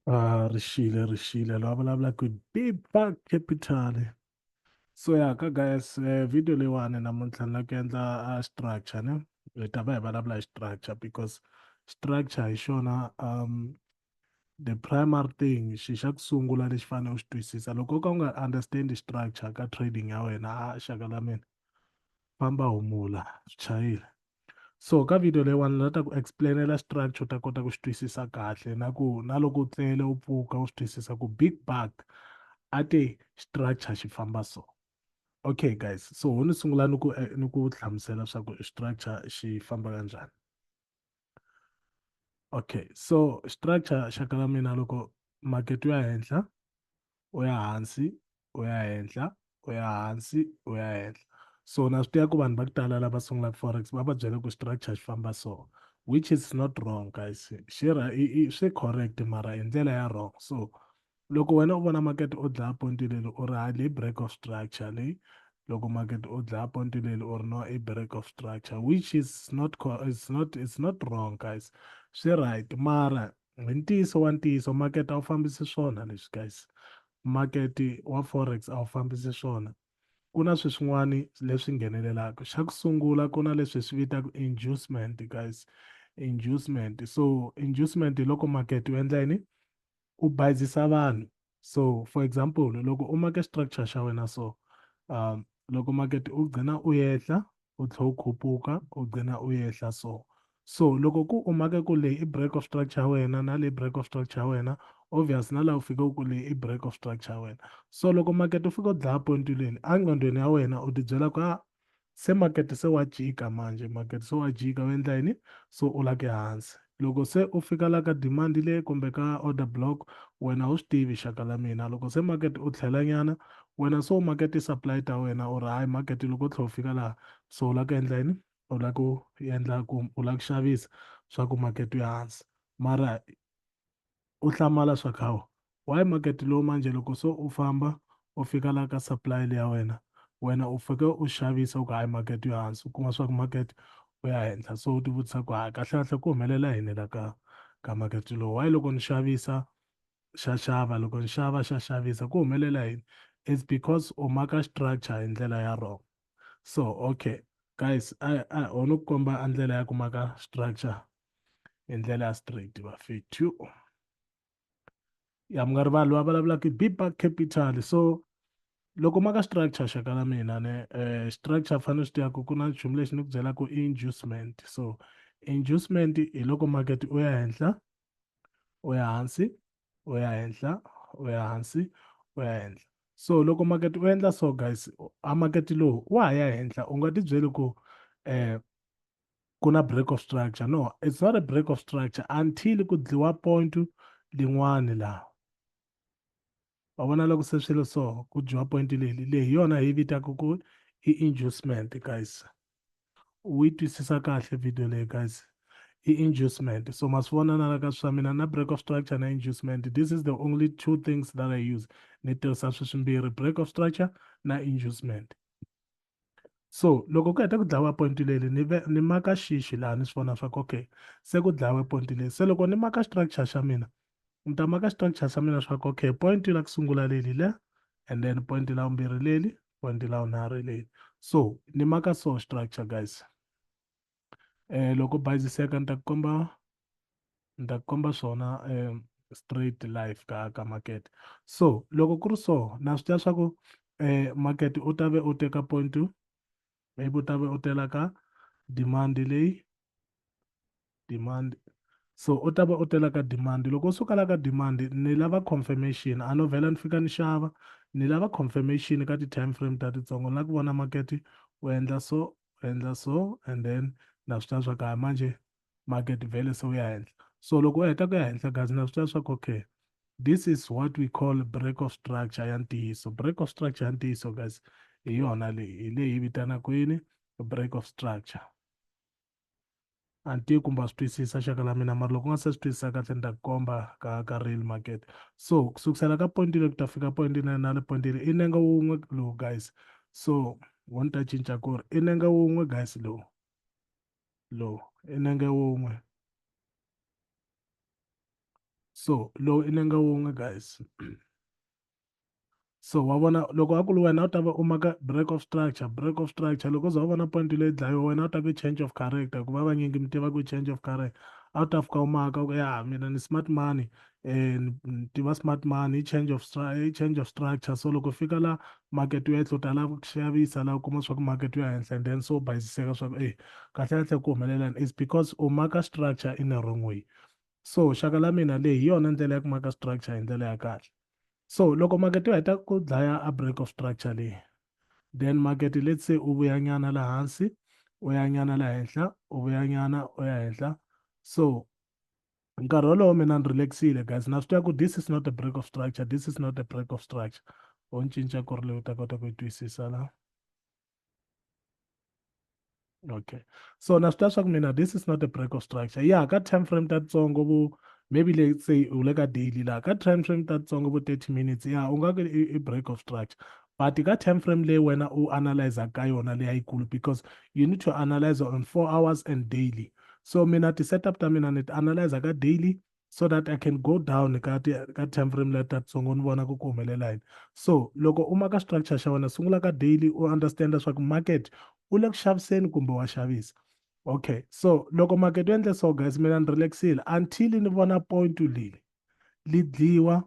Ah, ri xile ri xile la vulavula ku biba capital so ya ka guys eh, video leyiwani namuntlha ni la ku endla a ah, structure ne hi ta va hi vulavula hi structure because structure hi xona um the primary thing xi xa ku sungula lexi fanele u xi twisisa loko u ka u nga understand structure ka trading ya wena a ah, xaka la mina famba humula swi chayile so ka video leyiwani la ta ku explainela structure u ta kota ku xi twisisa kahle na ku na loko u tlele u pfuka u swi twisisa ku big bag a te structure xi famba so okay guys so ho ni sungula ni ku eh, ni ku hlamusela swa ku structure xi famba kanjhani okay so structure xaka la mina loko market ya henhla u ya hansi u ya henhla u ya hansi u ya henhla so na swi tiva ku vanhu va ku tala lava sungulaka forex va va byele ku structure xi famba so which is not wrong guys xi swi correct mara hi ndlela ya wrong so loko wena u vona makete o dlaya ponti leli u ri hali break of structure leyi loko makete o dlaya ponti leli u ri no i break of structure which is not it's not it's not wrong guys swi right mara Hi ntiyiso wa ntiyiso makete a wu fambisi swona leswi guys makete wa forex a wu fambisi swona ku na swi swin'wani leswi nghenelelaka xa ku sungula ku na leswi swi vitaka inducement guys inducement so inducement hi loko makete u endla yini u bayizisa vanhu so for example loko u make structure xa wena so um loko makete u gcina u yehla u tlhe u khupuka u gcina u yehla so so loko ku u make ku leyi i break of structure ya wena na leyi break of structure ya wena obvious na laha u fike ku leyi i break of structure ya wena so loko makete u fika u dlaya point leni enqondweni ya wena u tibyela ku a se makete se wa jika manje makete se wa jika u endla yini so u la ke hansi loko se u fika la ka demand leyi kumbe ka order block wena u swi tivi xaka la mina loko se makete u tlhela nyana wena so makete supply ta wena u ri hayi makete loko u tlhe u fika laha so u la ku endla yini u la ku endla ku u la ku xavisa swa ku makete u ya hansi mara u hlamala swa khawa why market lowu manje loko so u famba u fika la ka supply leya wena wena u fike u xavisa u ku hayi market yo hansi u kuma swa ku market u ya henhla so u tivutisa ku hayi kahlekahle ku humelela yini la ka ka market lowu why loko ni xavisa xa xava loko ni xava xa xavisa ku humelela yini it's because u maka structure hi ndlela ya wrong so okay guys a a ho no ku komba a ndlela ya ku maka structure hi ndlela ya straight vafethu ya mi nga rivali va vulavulaka biba capital so loko ma ka structure xaka la mina ne um structure fanele swi tiyaku ku na nchumu lexi ni ku byelaku i inducement so inducement hi loko market u ya henhla u ya hansi u ya henhla u ya hansi u ya henhla so loko market u endla so guys a market lowu wa ha ya henhla u nga ti byeli ku um ku na break of structure no it's not a break of structure until ku dliwa point lin'wani laha wa vona loko se swilo so ku dyiwa point leli leyi yona hi vitaka ku i inducement guys u yi twisisa kahle video leyi guys i inducement so ma swi vona na la ka swa mina na break of structure na inducement this is the only two things that i use ni tirhisa swi swimbirhi break of structure na inducement so loko ku heta ku dlayiwa point leli ni ve ni maka xixi laha ni swi vona swa ku okay se ku dlayiwe point leli se loko ni maka structure xa mina ni ta maka structure xa mina swa ku okay point la ku sungula leli le and then point la vumbirhi leli point la vunharhu leli so ni maka so structure guys eh, loko bayiziseka ni ta ku komba ni ta ku komba swona eh, straight life ka ka market so loko ku ri so na swi tiva swa ku eh, market u ta ve u teka point maybe u ta ve u tela ka demand leyi demand so u ta va u tela ka demand loko u suka la ka demand ni lava confirmation a no vhela ni fika ni xava ni lava confirmation ka ti-time frame ta titsongo ni la ku vona market u endla so endla so and then na swi tiva swa ku hayi manje market vele se wu ya henhla so loko u heta ku ya henhla guys na swi tiva swa ku okay this is what we call break of structure ya ntiyiso break of structure ya ntiyiso guys hi yona leyi hi leyi vitanaka yini break of structure a ni tivi kumbe a swi twisisa xaka la mina mara loko u nga se swi twisisa kahle ni ta ku komba ka ka real market so ku sukusela ka point leyi ku ta fika point leyi na le point leyi i nenga wun'we lowu guys so wo ni ta cinca ku ri i nenga wun'we guys lowu lowu i nenge wun'we so lowu i nenga wun'we guys so wa vona loko a ku ri wena u ta va u maka break of structure break of structure loko za u vona point leyi dlayiwa wena u ta ve change of character hikuva vanyingi mi tiva ku change of character a wu ta fika u maka ku ya mina ni smart money um ni tiva smart money i change of i change of structure so loko fika la market yo etlota la ku xavisa la u kuma swa ku market yo henhla and then so u bayisiseka swa ku e kahle kahle ku humelelani is because u maka structure in a wrong way so xaka la mina leyi hi yona ndlela ya ku maka structure hi ndlela ya kahle so loko market yo heta ku dlaya a break of structure leyi then market let's say u vuyanyana la hansi u yanyana la henhla u vuyanyana u ya henhla so nkarhi wolowo mina ni relaxile guys na swi tiva ku this is not a break of structure this is not a break of structure u ni cinca ku ri leyi u ta kota ku yi twisisa la okay so na swi tiva swa ku mina this is not a break of structure ya ka time frame ta tsongo vo maybe let's say u le ka daily laha ka time frame ta tsongo vo 30 minutes ya u nga ku i break of structure but ka time frame leyi wena u analyza ka yona leyayikulu because you need to analyze on four hours and daily so mina ti-setup ta mina ni ti analyza ka daily so that i can go down ka ti ka time frame leyi tatsongo ni vona ku ku humelela yini so loko u maka structure xa wena sungula ka daily u understand leswaku market u le ku xaviseni kumbe wa xavisa okay so loko market u endle so guys mina ni relaxile until ni vona point leyi li dliwa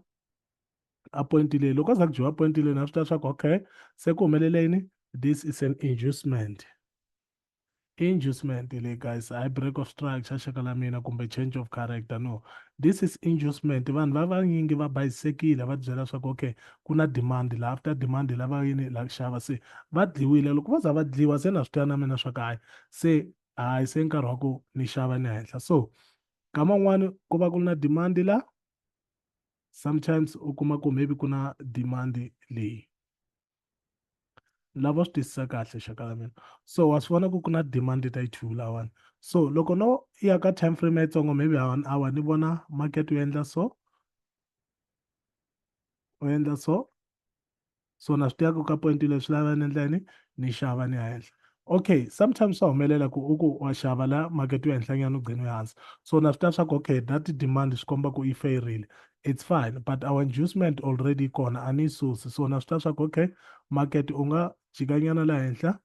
a point leyi loko za ku dyiwa point leyi na swi tiva leswaku okay se ku humelele yini this is an inducement Inducement le guys hayi break of structure xaka la mina kumbe change of character no this is inducement vanhu va vanyingi va bayisekile va byela swa ku okay ku na demand la after demand la va yini la xava se va dliwile loko va za va dliwa se na swi twa na mina swa ku hayi se hayi se nkarhi wa ku ni xava ni henhla so kama n'wana ku va ku ri na demand la sometimes u kuma ku maybe ku na demand leyi lava swi twisisa kahle xaka la mina so wa swi vona ku ku na demand ta yi-two lawani so loko no ya ka time frame ya yitsongo maybe ha one hour ni vona market u endla so u endla so so na swi tivaka ka point leswi lava ni endla yini ni xava ni ya henhla okay sometimes swa humelela ku u ku wa xava la makete yo henhlanyana u gcine hansi so na swi ta swa ku okay that demand swi komba ku yi fayirile it's fine but our inducement already yi kona a ni yi susi so na swi ta swa ku okay market u nga jikanyana la henhla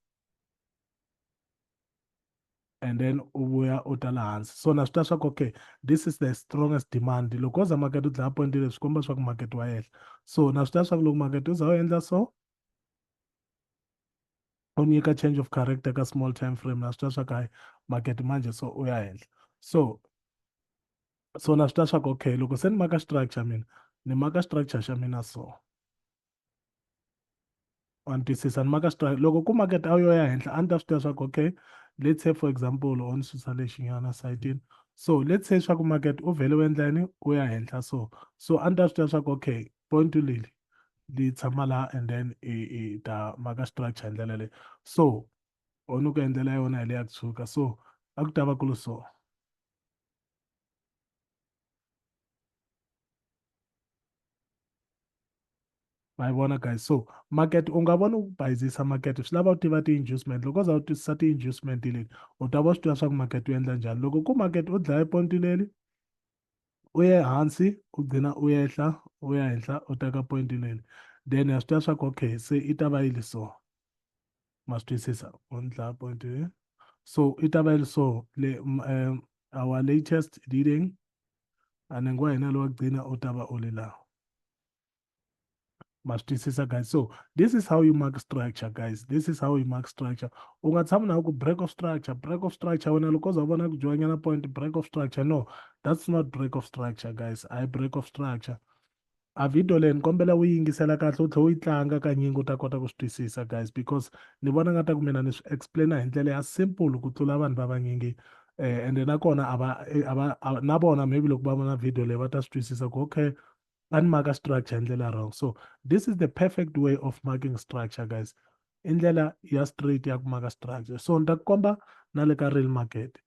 and then u vuya u ta la hansi so na swi ta swa ku okay this is the strongest demand loko wo za makete u dlaya pointile swi komba swa ku makete wa yehla so na swi ta swa ku loko makete u za u endla so u nyika change of character ka small time frame na swi twa swa ku hayi market manje so u ya henhla so so na swi twa swa ku okay loko se ni maka structure mina ni maka structure xa mina so wa ni twisisa ni maka structure loko ku market a wu yo ya henhla a ni ta swi tiva swa ku okay let's say for example o ni susa lexinyana sayitini so let's say swa ku market u vhele u endla yini u ya henhla so so a ni ta swi tiva swa ku okay point leli li tshama la and then i i ta maka structure hi ndlela leyi so or ni ku endlela yona hi leya ku tshuka so a ku ta va ku ri so ma yi vona guys so market u nga voni ku bayizisa market swi lava u tiva ti-inducement loko u za u twisisa ti-inducement leti u ta va swi tiva swa ku market u endla njhani loko ku market u dlaya ponti leli u ye hansi u gcina u yehla u ya henhla u teka point leli then ya swi tiva swa ku okay se i ta va yi li so ma swi twisisa u ni dlaya point so i ta va yi li so le eh, our latest reading and ngowa hina lowa gcina u ta va u li laha ma swi twisisa guys so this is how you mark structure guys this is how you mark structure u nga tshami na ku break of structure break of structure wena loko za vona ku joinyana point break of structure no that's not break of structure guys i break of structure a video leyi ni kombela u yingisela kahle u tlhela u yi tlanga ka nyingi u ta kota ku swi twisisa guys because ni vona nga ta ku mina ni swi explaina hi ndlela ya simple ku tlula vanhu va vanyingi um eh, ende nakona a va eh, a va na vona maybe loko va vona video leyi va ta swi twisisa ku okay tani maka structure hi ndlela wrong so this is the perfect way of marking structure guys i ndlela ya straight ya ku maka structure so ni ta ku komba na le ka real market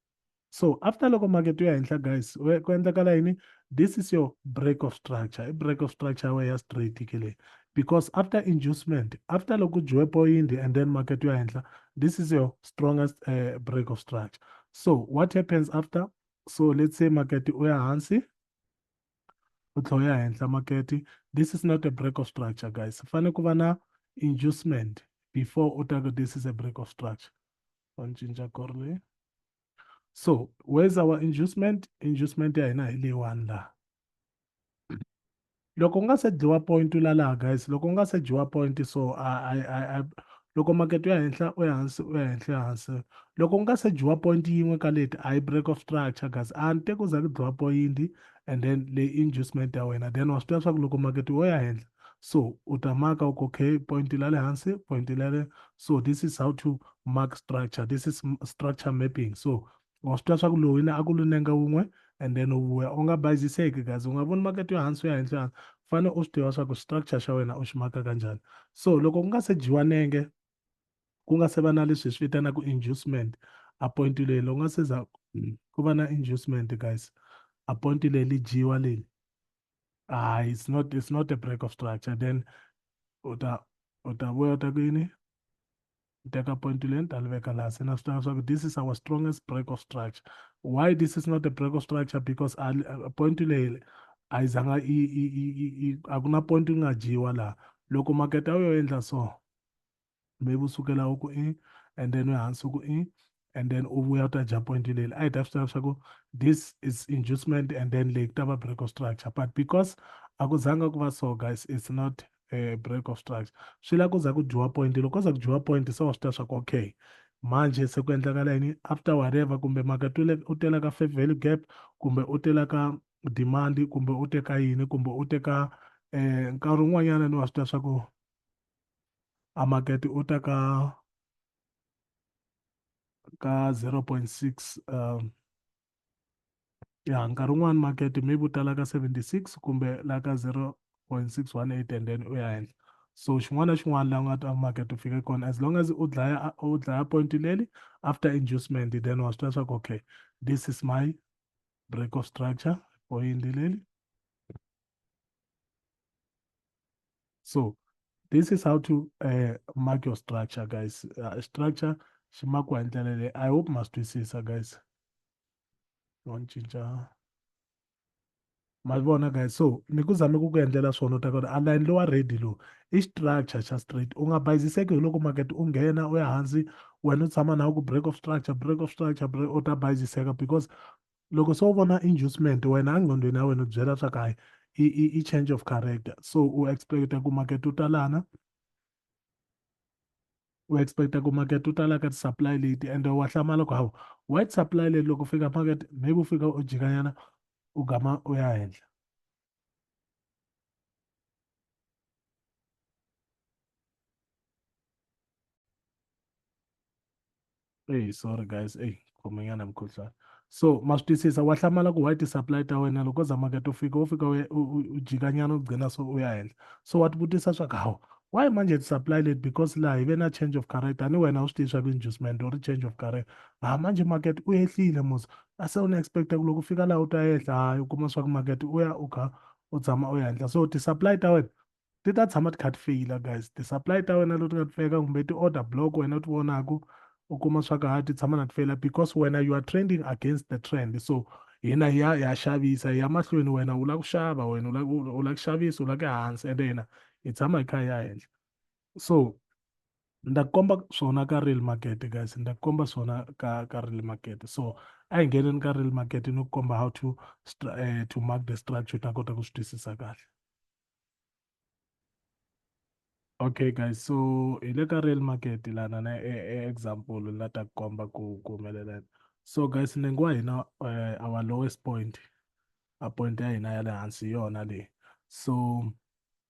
so after loko market yo ya henhla guys ku endlekala yini this is your break of structure i break of structure way ya straight ke leyi because after inducement after loko dyiwe point and then market yo ya henhla this is your strongest uh, break of structure so what happens after so let's say market u ya hansi u tlhe u ya henhla makete this is not a break of structure guys fane ku va na inducement before u ta ku this is a break of structure wa ni cinca kor leyi so where's our inducement inducement ya hina hi leyiwani laha loko u nga se dyiwa point u la laha guys loko u nga se dyiwa point so a a a loko makete ya henhla u ya hansi u ya henhla ya hansi loko ku nga se dyiwa point yin'we ka leti a yi break of structure kasi a ni te ku za ku dyiwa point and then leyi inducement ya wena then wa swi tiva leswaku loko makete wo ya henhla so u ta maka u kokhe point la le hansi point la le so this is how to mark structure this is structure mapping so wa swi twa swa ku lowina a ku lu nenga wun'we and then u vuya u nga bayiziseki kazi u nga voni makete yo hansi u ya henhla hansi u fane u swi tiva swa ku structure xa wena u xi maka kanjhani so loko ku nga se dyiwa nenge ku nga se va na leswi hi swi vitanaka inducement a point leyi loko nga se za ku va na inducement guys a point leyi li dyiwa leli ah it's not it's not a break of structure then u ta u ta vuya u ta ku yini ni teka point leyi ni ta li veka laha se na swi tiva leswaku this is our strongest break of structure why this is not a break of structure because point leyi a yi zanga a ku na point yi nga dyiwa laha loko makete a wu yo endla so maybe u sukela u ku i and then u hansi u ku i and then u vuya u ta dya point leli a hi ta swi tiva leswaku this is inducement and then leyi ku ta va break of structure but because a ku zanga ku va so guys it's not a break of structure swi la ku za ku dyiwa point loko ko za ku dyiwa point se wa swi tiva swaku okay manje se ku endlakala yini after whatever kumbe maka u tela ka fair value gap kumbe u tela ka demand kumbe u teka yini kumbe u teka eh nkarhi wun'wanyana ni wa swi tiva swaku a makete u ta ka ka 0.6 um ya nkarhi wun'wani makete maybe u tala ka 76 kumbe la ka 0.618 and then u ya henhla so xin'wana na xin'wana la u nga ta makete u fike kona as long as u dlaya u dlaya point leli after inducement then wa swi tiva leswaku okay this is my break of structure point leli so this is how to uh, mark your structure guys uh, structure xi makiwa hi ndlela leyi i hope ma swi twisisa guys wa ni cinca ma vona guys so ni ku zame ku ku endlela swona u ta kona aline lowa ready lowu i structure xa straight u nga bayiziseki hi loko market u nghena u ya hansi wena u tshama na ku break of structure break of structure break u ta bayiziseka because loko se u vona inducement wena engqondweni ya wena u byela swa kahle i, i, i change of character so u expecta ku makete u talana u expecta ku makete u tala ka ti-supply leti and wa hlamala ku hawu white supply leti loko fika makete maybe u fika u jikanyana u gama u ya henhla Hey, sorry guys. Hey, khomanyana mukhuhlwana. So ma swi twisisa wa hlamala ku why ti-supply ta wena loko za makete u fika u fika u u jikanyana u gcina so u ya henhla. So wa tivutisa swa ku hawu why manje ti-supply leti because laha hi ve na change of career tanihi wena u swi tivi swa ku inducement or change of career. Ha manje makete u ehlile musa a se u ni expect ku loko fika laha u ta ehenhla hayi u kuma swa ku makete u ya u kha u tshama u ya henhla so ti-supply ta wena ti ta tshama ti kha ti feyila guys ti-supply ta wena leti nga ti feka kumbe ti-order block wena u ti vonaka u kuma swa ku ha ti tshama na ti feyila because wena you are trending against the trend so hina hi ya hi ya xavisa hi ya mahlweni wena u lava ku xava wena u lava ku xavisa u lava ku ya hansi ende hina hi tshama hi kha hi ya henhla so nda komba swona ka real market guys nda komba swona ka ka real market so a hi ngheneni ka real market ni ku komba how to uh, to mark the structure ta kota ku swi twisisa kahle okay guys so hi le ka real market lana na e, e example la ta komba ku ku humelela so guys nengo wa hina uh, our lowest point a point ya hina ya le hansi yona leyi so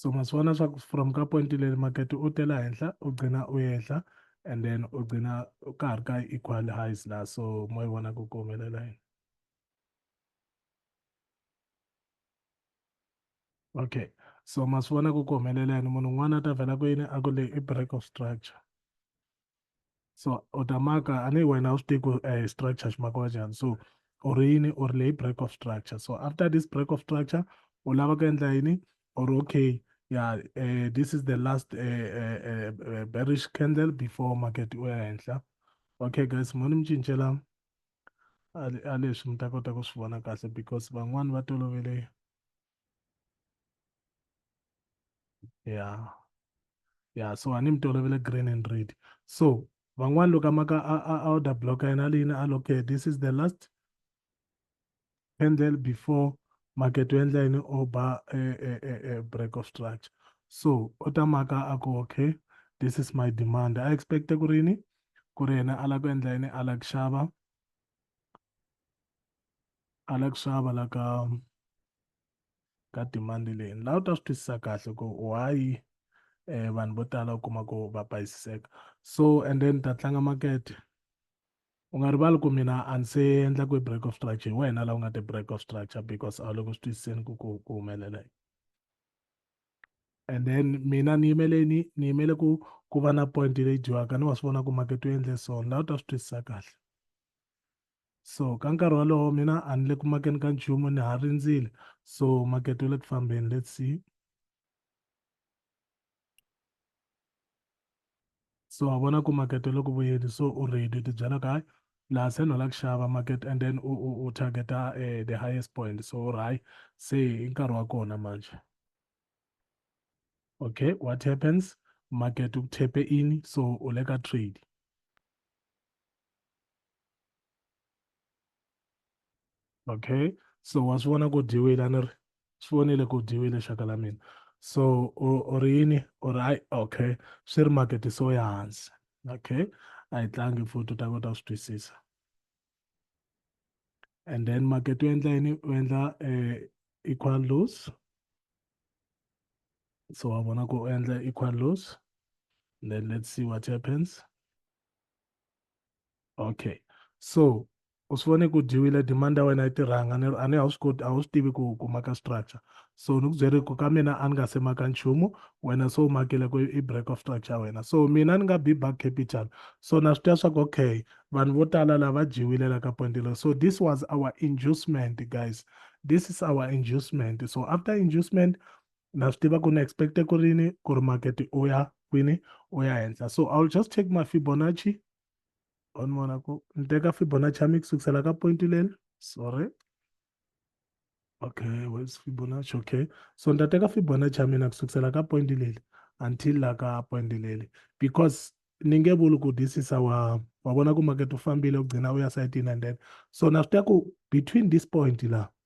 so ma swi vona swa ku from ka point leri makete u tela henhla u gcina u yehla and then u gcina ka ha ri ka equal highs la so mo yi vona ku ku humelela yini Okay so ma swi vona ku ku humelela yini munhu un'wana a ta vhela ku yini a ku le i break of structure so u ta maka a ni wena u swi tivi ku um structure xi makiwa njhani so u ri yini u ri leyi break of structure so after this break of structure u lava ku endla yini or okay yeah uh, this is the last uh, uh, uh, bearish candle before market u ya henhla okay guys mo ni mi cincela a leswi mi ta kota ku swi vona kahle because van'wani va tolovele yeah yeah so a ni mi tolovele green and red so van'wani loko amaka a order block ya yena leyini a loke this is the last candle before market u endla yini o ba e, e, e, break of structure so u ta maka a ku okay this is my demand a expecte ku ri yini ku ri yena a lava ku endla yini a lava ku xava a la ku xava la ka ka demand leyi la u ta swi twisisa kahle ku why eh vanhu vo tala u kuma ku va bayisiseka so and then ta tlanga makete u nga rivali ku mina a ni se endla ku break of structure hi wena la u nga ti break of structure because a wu le ku swi twisiseni ku ku ku humelela yini and then mina ni yimele ni ni yimele ku ku va na point leyi dyiwaka ni wa swi vona ku makete u endle so laha u ta swi twisisa kahle so ka nkarhi wolowo mina a ni le ku makeni ka nchumu ni ha rindzile so makete u le ku fambeni let's see so wa vona ku makete loko vuyeli so u ready u tibyela ku hayi laha se ni lava ku xava market and then u u u targeta uh, the highest point so u ri hayi se i nkarhi wa kona manje okay what happens market u thepe ini so u le ka trade okay so wa swi vona ku dyiwile a ni ri swi vonile ku dyiwile xaka la mina so u ri yini u ri hayi okay swi ri makete so ya hansi okay a yi tlangi futhi u ta kota ku swi twisisa and then makete u endla yini u endla um equal lose so wa vona ku u endla equal lose then let's see what happens okay so u swi vone ku dyiwile demand ya wena yi tirhanga ni a ni a wu swi koti a wu swi tivi ku ku maka structure so ni ku byeri ku ka mina a ni nga se maka nchumu wena so u makile ku i break of structure ya wena so mina ni nga be back capital so na swi tiva swa ku okay vanhu vo tala lava va dyiwile la ka point leyi so this was our inducement guys this is our inducement so after inducement na swi tiva ku ni expecte ku rini ku ri market u ya kwini u ya henhla so i will just take my fibonacci on vona ku ni teka fibonacci ya mi ku sukusela ka point leni sorry okay where's fibonacci okay so ni ta teka fibonacci ya mina ku sukusela ka point leli until la ka point leli because ni nge vuli ku this is our wa vona ku market u fambile u gcina u ya sayitini and then so na swi tiva ku between this point la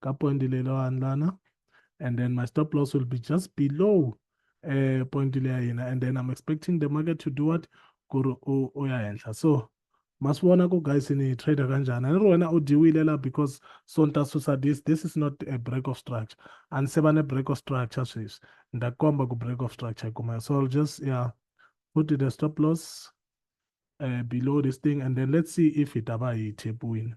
ka point leyi lo handlana and then my stop loss will be just below uh, point leyi ya hina and then i'm expecting the market to do what ku ri u ya henhla so ma swi vona ku guys ni trader kanjhani ni ri wena u dyiwile la because so ni ta susa this this is not a break of structure a ni se va ne break of structure sweswi ni ta komba ku break of structure yi kumeka so i'll just yeah put the stop loss uh, below this thing and then let's see if it aba yi tap win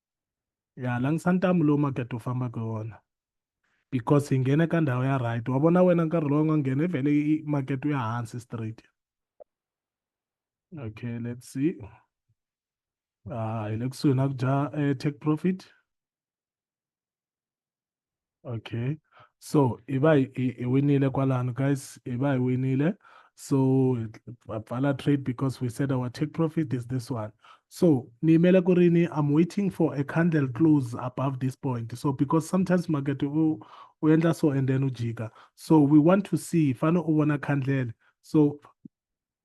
ya langisa ntamu lowu makete wu fambaka hi wona because hi nghene ka ndhawu ya right wa vona wena nkarhi lowu nga nghena i vhele makete wu ya hansi straight okay let's see ah hi le kusuhi na ku dya eh, take profit okay so hi va hi winile kwalano guys hi va hi winile so va pfala trade because we said our take profit is this one so ni yimele ku ri ni i'm waiting for a candle close above this point so because sometimes market u u endla so and then u jika so we want to see fane u vona candle so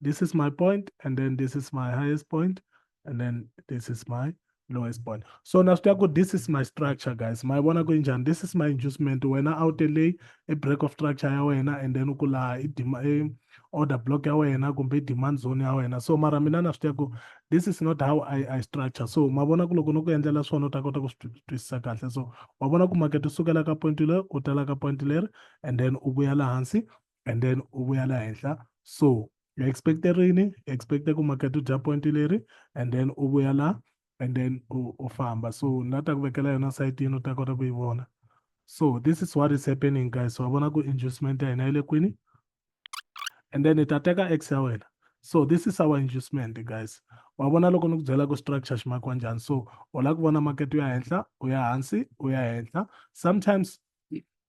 This is my point, and then this is my highest point, and then this is my lowest point. So now this is my structure, guys. My wanna go injan. This is my inducement. When I out delay a break of structure, and then ukula eh, order block ya wena kumbe demand zone ya wena so mara mina na swi tiva ku this is not how i, I structure so ma vona ku loko no ku endlela swona u ta kota ku swi twisisa kahle so wa vona ku makete u sukela ka point leri u tala ka point leri and then u vuya laha hansi and then u vuya la henhla so u expecte rini expecte ku market u dya point leri and then u vuya la and then u, u famba so na ta ku vekela yona sayitini u ta kota ku yi vona so this is what is happening guys wa vona ku inducement ya hina yi le kwini and then hi ta teka x ya wena so this is our inducement guys wa vona loko ni ku byela ku structure xi makiwa njhani so u lava ku vona market u ya henhla u ya hansi u ya henhla sometimes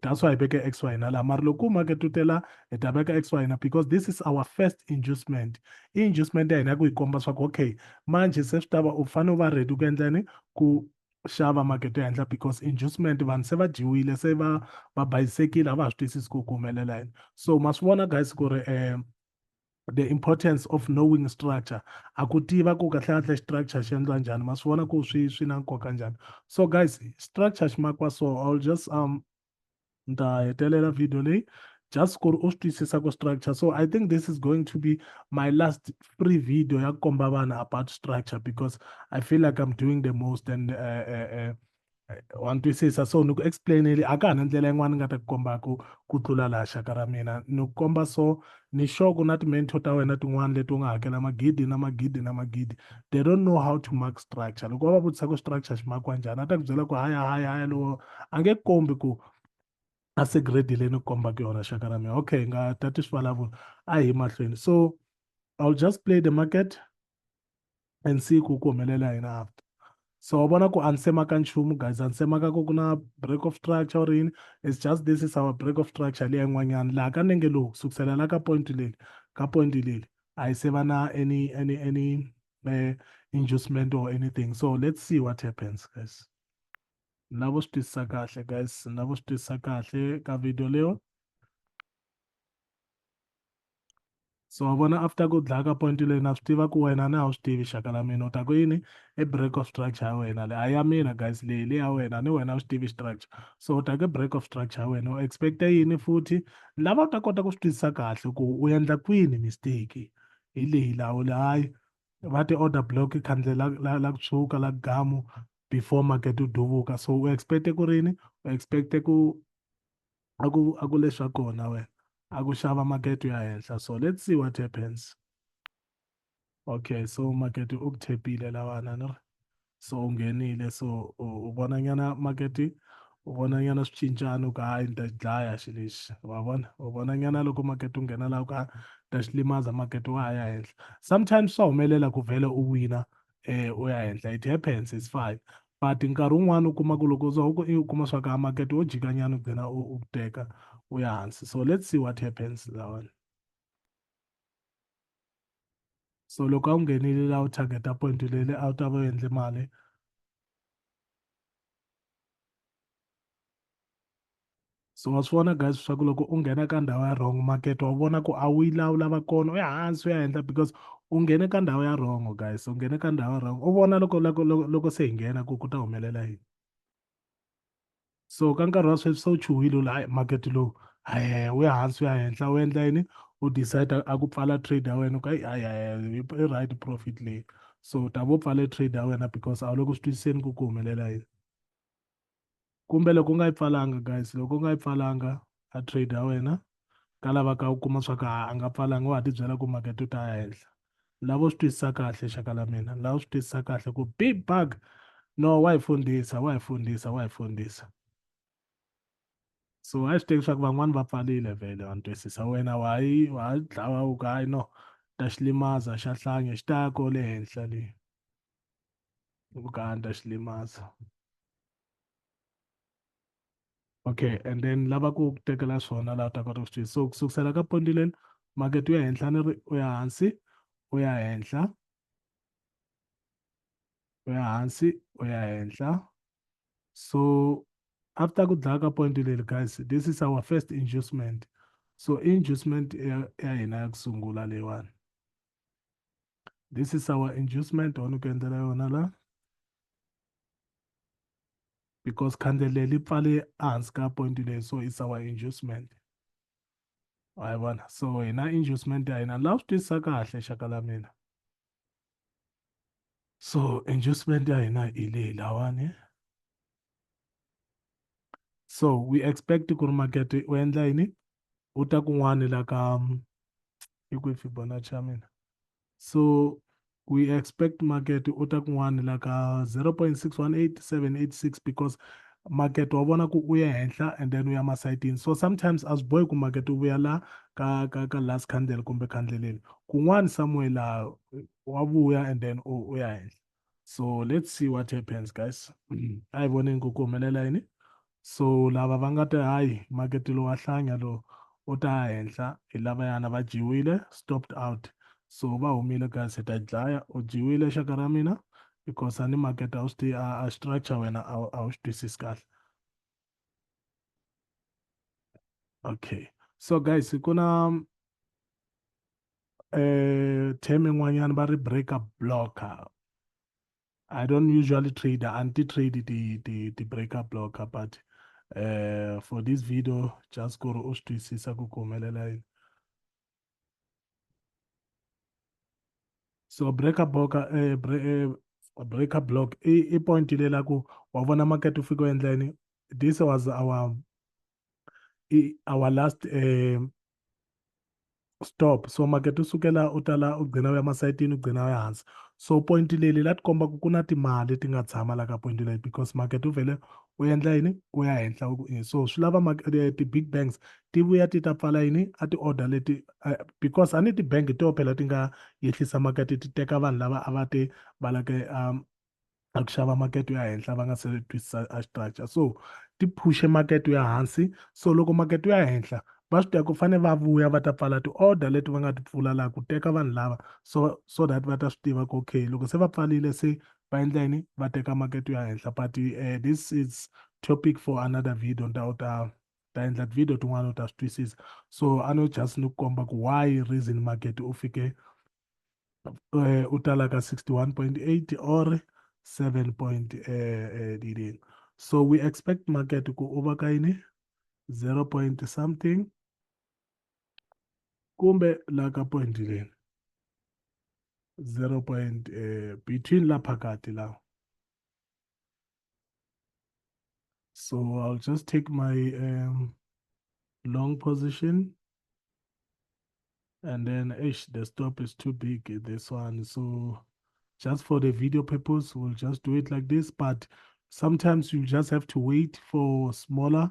that's why i veke x y na la mara loko u maketutela hi ta veka x y na because this is our first inducement i inducement ya hina ku yi komba swa ku okay manje se swi ta va u fanele u va ready ku endlani ku xava maketo henhla because inducement vanhu se va dyiwile se va va bayisekile a va ha swi twisisi ku ku humelela yini so ma swi vona guys ku ri um the importance of knowing structure a ku tiva ku kahle kahle structure xi endla njhani ma swi vona ku swi swi na nkoka njhani so guys structure xi makiwa so i'll just um ni ta hetelela video leyi just ku ri u swi twisisa ku structure so i think this is going to be my last free video ya ku komba vanhu about structure because i feel like i'm doing the most and uh, uh, uh, eh, wa ni twisisa so ni ku explaineli a ka ha na ndlela yin'wana ni nga ta ku kombaka ku tlula laha xaka ra mina ni ku komba so ni sure ku na ti-mentor ta wena tin'wana leti u nga hakela magidi na magidi na magidi they don't know how to mark structure loko va va vutisa ku structure xi makiwa njhani a ta ku byela ku haya haya haya lowo a nge kombi ku a se grade leyi ni kombaka yona xaka ra mina okay nga tati swivulavula a hi mahlweni so i'll just play the market and see ku ku humelela yini after so wa vona ku a ni semaka nchumu guys a ni semaka ku ku na break of structure or yini it's just this is our break of structure leyi yin'wanyana laha ka nenge lowu kusukisela la ka point leli ka point leli a yi se va na any any any uh, inducement or anything so let's see what happens guys na vo swi twisisa kahle guys na vo swi twisisa kahle ka video leyo so wa vona after ku dlaya ka point leyi na swi tiva ku wena ni a wu swi tivi xaka la mina u ta ku yini i break of structure ya wena le a ya mina guys leyi le ya wena ni wena a wu swi tivi structure so u ta ku break of structure ya wena u expecta yini futhi lava u ta kota ku swi twisisa kahle ku u endla kwini mistake hi leyi lawo le hayi va ti order block khandle la la la kutshuka la gamu before market u duvuka so u expecte ku rini u expecte ku a ku a ku leswa kona wena a ku xava makete ya henhla so let's see what happens okay so makete u ku thepile lawana ni ri so u nghenile so u vona nyana makete u vona nyana swi cincana u ka hayi ni ta xi dlaya xi lexi wa vona u vona nyana loko makete u nghena laha u ka ta xi limaza makete wa ha ya henhla sometimes swa humelela ku vhele u wina eh, u ya henhla it happens it's fine but nkarhi wun'wana u kuma ku loko u ku i u kuma swa ku a makete wo jikanyana u gcina u u teka u ya hansi so let's see what happens lawani so loko a wu nghenile la u targeta point lele a wu ta va u endle mali so wa swi vona guys swa ku loko u nghena ka ndhawu ya wrong makete wa vona ku a wu yi laha u lava kona u ya hansi u ya endla because u nghene ka ndhawu ya wrong guys u nghene ka ndhawu ya wrong u vona loko loko loko loko se hi nghena ku ku ta humelela yini so ka nkarhi wa sweswi se u chuhile u la hayi makete lowu hayi u ya hansi u ya henhla u endla yini u decide a ku pfala trade ya wena u ka hayi hayi i right profit leyi so u ta vo pfale trade ya wena because a wu le ku swi twisiseni ku ku humelela yini kumbe loko u nga yi pfalanga guys loko u nga yi pfalanga a trade ya wena ka lava ka u kuma swa ku a nga pfalanga wa ha tibyela ku makete u ta ya henhla lava u swi twisisa kahle xaka la mina lava u swi twisisa kahle ku big bug no wa hi fundisa wa hi fundisa wa hi fundisa so a swi teki swa ku van'wani va pfarile vhele wa ni twisisa wena wa yi wa ha dlawa u ku hayi no ta xi limaza xa hlange xi ta ya kole henhla leyi Uganda xilimaza okay and then lava ku tekela swona laha u ta kota ku swi so ku sukusela ka pondi leli makete u ya henhla ni ri u ya hansi u ya henhla u ya hansi u ya henhla so after ku dlaya ka point leli guys this is our first inducement so inducement ya hina ya ku sungula leyiwani this is our inducement one ku endlela yona la because khandle leyi li pfale ehansi ka point leyi so it's our inducement wa yi vona so hina inducement ya hina laha swi twisisa kahle xaka la mina so inducement ya hina hi leyi lawani so we expect ku ri makete u endla yini u ta kun'wani la ka i kwihi fibonacci ya mina so we expect market u ta kun'wani la ka 0.618786 because market wa vona ku u ya henhla and then u ya masayitini so sometimes a swi bohi ku market u vuya la ka ka ka last candle kumbe candle leli kun'wani somewhere laha wa vuya and then u ya henhla so let's see what happens guys a hi voneni ku ku humelela yini so lava va nga te hayi makete lowu wa hlanya lowu u ta henhla hi lavayana va dyiwile stopped out so va humile guys hi ta dlaya u dyiwile xaka ra mina because a ni makete a wu swi a structure wena a wu swi twisisi kahle okay so guys ku na eh term yin'wanyana va ri breaker blocker i don't usually trade anti trade the the the breaker blocker but uh, for this video just ku ri u swi twisisa ku ku humelela yini so breaker block eh, bre, eh, breaker block i, i point leyi la ku wa vona market wu fika endleni this was our i, our last eh, stop so market u sukela u tala u gcina u ya masayitini u gcina u ya hansi so point leyi leyi la ti komba ku ku na timali ti nga tshama la ka point leyi because market u vhele u endla yini u ya henhla u ku i so swi lava eh, ti-big banks ti vuya ti ta pfala yini a ti-order leti eh, because a ni ti-bank to phela ti nga yehlisa makete ti teka vanhu lava a va te va lake um, a ku xava makete ya henhla va nga se twisisa a structure so ti phushe makete ya hansi so loko makete ya henhla va swi tiva ku fane va vuya va ta pfala ti-order leti va nga ti pfula laha ku teka vanhu lava so so that va ta swi tiva ku okay loko se va pfarile se va endla yini va teka makete yo ya henhla but uh, this is topic for another video ni ta u ta ta endla tivideo tin'wana u ta swi twisisa so a no just ni ku komba ku why reason market u fike uh, u tala ka 61.8 or 7 point uh, uh, so we expect market ku u va ka yini 0 point something kumbe la ka point leni 0 point eh, between la phakati la so i'll just take my um, long position and then ish the stop is too big this one so just for the video purpose we'll just do it like this but sometimes you just have to wait for smaller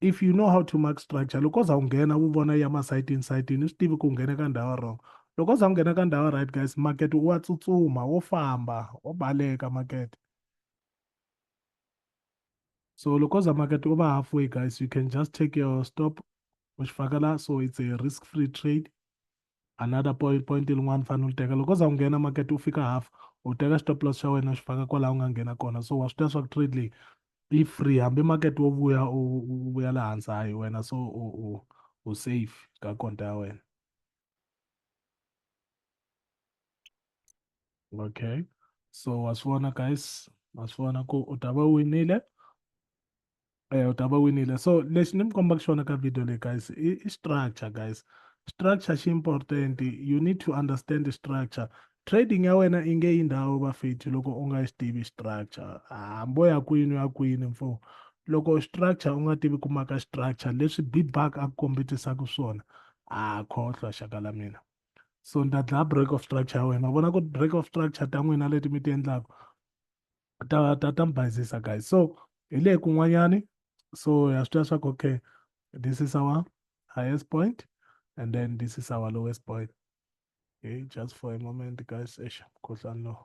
if you know how to mark structure loko u za u nghena wu vona ya masayiti insayiti ni swi tivi ku nghene ka ndhawu wrong loko u za u nghena ka ndhawu right guys makete wa tsutsuma wo famba wo baleka makete so loko za makete u va halfway guys you can just take your stop u xi faka la so it's a risk free trade another point point lin'wana fanele u li teka loko u za u nghena market u fika half u teka stop loss xa wena xi faka kwalaho u nga nghena kona so wa swi tiva swa ku trade leyi yi free hambi market wo vuya u vuya le hansi hayi wena so u u u safe ka konta ya wena okay so wa swi vona guys wa swi vona ku u ta va winile e u ta va winile so lexi ni mi kombaka xona ka video leyi guys i, i structure guys structure xi important you need to understand the structure trading ya wena i nge yi ndhawu vafethi loko u nga yi swi tivi structure hambo ya kwini ya kwini mfo loko structure u nga tivi ku maka structure leswi bibak a ku kombetisaka swona a khohlwa xaka la mina so ni ta dlaya break of structure ya wena vona ku break of structure ta n'wina leti mi ti endlaka ta ta ta mi bayizisa guys so hi le kun'wanyani so ya swi tiva swa ku okay this is our highest point and then this is our lowest point okay just for a moment guys eish mkhuhlani lowu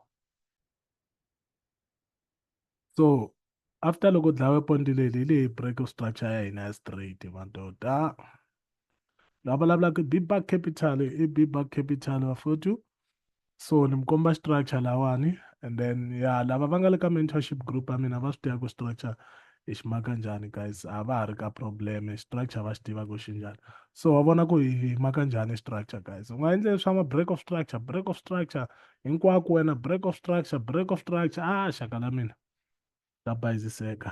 so after loko dlawe point leli hi leyi break structure ya hina ya straight vanto ta la vulavulaka i big buck capital i big buck capital vafowethu so ni mi komba structure lawani and then ya lava va nga le ka mentorship group ya mina va swi tiva ku structure hi xi maka njhani guys a va ha ri ka problem structure va xi tiva ku xi njhani so wa vona ku hi maka njhani structure guys u nga endle swa ma break of structure break of structure hinkwako wena break of structure break of structure a ah, xaka la mina ta bayiziseka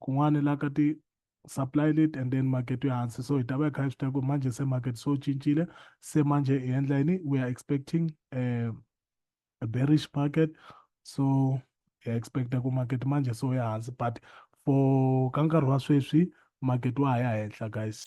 kun'wana hi la ka ti supply late and then market ya hansi so hi ta va hi kha hi swi tiva ku manje se market so cincile se manje hi endla yini we are expecting uh, a bearish market so hi expecta ku market manje so ya hansi but for ka nkarhi wa sweswi market wa ha ya henhla guys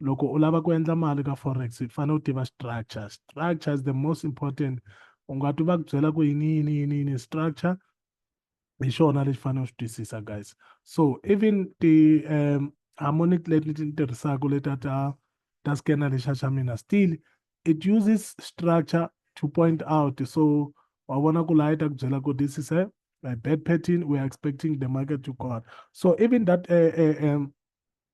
loko u lava ku endla mali ka forex u fanele u tiva structure structure is the most important u nga twi va ku byela ku yini yini yini yini structure hi xona lexi fanele u xi twisisa guys so even ti um harmonic leti ni ti tirhisaka leta ta ta scanner lexa xa mina still it uses structure to point out so wa vona ku laha yi ta ku byela ku this is a, a bad pattern we are expecting the market to go on so even that uh, uh, um,